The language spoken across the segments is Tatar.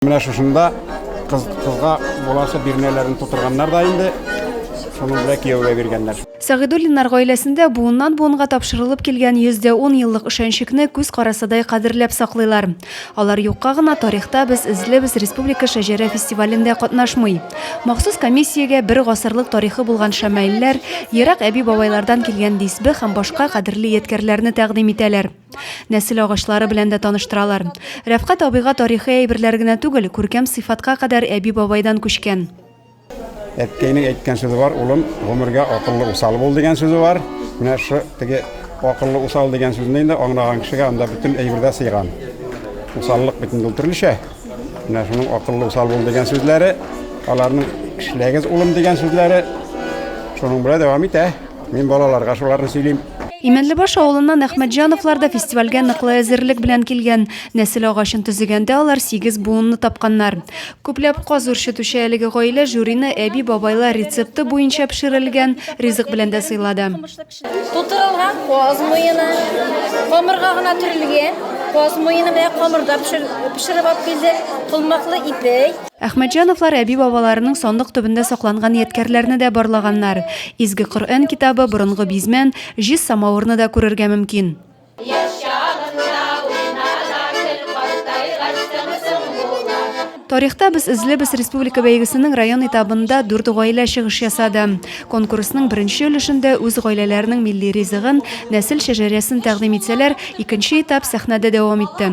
Менә шушында кыз кызга буласы бирнәләрен тутырганнар да инде. Шуны белән кияүгә биргәннәр. Сәгыйдуллиннар гаиләсендә буыннан-буынга тапшырылып килгән 110 еллык ышанчыкны күз карасыдай кадерләп саклыйлар. Алар юкка гына тарихта без эзлебез республика шәҗәрә фестивалендә катнашмый. Махсус комиссиягә бер гасырлык тарихы булган шәмаилләр, ерак әби-бабайлардан килгән дисбе һәм башка кадерле ядкәрләрне тәкъдим итәләр. Нәсел агачлары белән дә таныштыралар. Рәфкать абыйга тарихи әйберләр генә түгел, күркәм сыйфатка кадәр әби-бабайдан күчкән. Әткәйнең әйткән сүзе бар, улым, гомергә акыллы усал бул дигән сүзе бар. Менә шу теге акыллы усал дигән сүзне инде аңлаган кешегә анда бөтен әйбердә сыйган. Усаллык бит инде төрлечә. Менә шуның акыллы усал бул дигән сүзләре, аларның эшләгез улым дигән сүзләре шуның белән дәвам итә. Мин балаларга шуларны сөйлим. Имәнлебаш авылыннан Әхмәтҗановлар да фестивальгә ныклы әзерлек белән килгән. Нәсел агачын төзегәндә алар сигез буынны тапканнар. Күпләп каз үрчетүче әлеге гаилә жюрины әби-бабайлар рецепты буенча пешерелгән ризык белән дә сыйлады. Тутырылган каз муены, камырга гына төрелгән каз муены белән камырда пешереп алып килдек, колмаклы ипи. Әхмәтҗановлар әби-бабаларының сандык төбендә сакланган ядкәрләрне дә барлаганнар. Изге Коръән китабы, борынгы бизмән, җиз самавырны да күрергә мөмкин. Тарихта без эзлебез республика бәйгесенең район этабында дүрт гаилә чыгыш ясады. Конкурсның беренче өлешендә үз гаиләләренең милли ризыгын, нәсел шәҗәрәсен тәкъдим итсәләр, икенче этап сәхнәдә дәвам итте.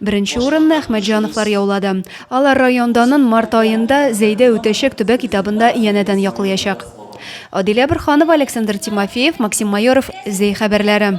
Беренче урынны Әхмәтҗановлар яулады. Алар районданын март аенда Зәйдә үтәчәк төбәк этабында янәдән яклыячак. Адилә Борханова, Александр Тимофеев, Максим Майоров, Зәй хәбәрләре.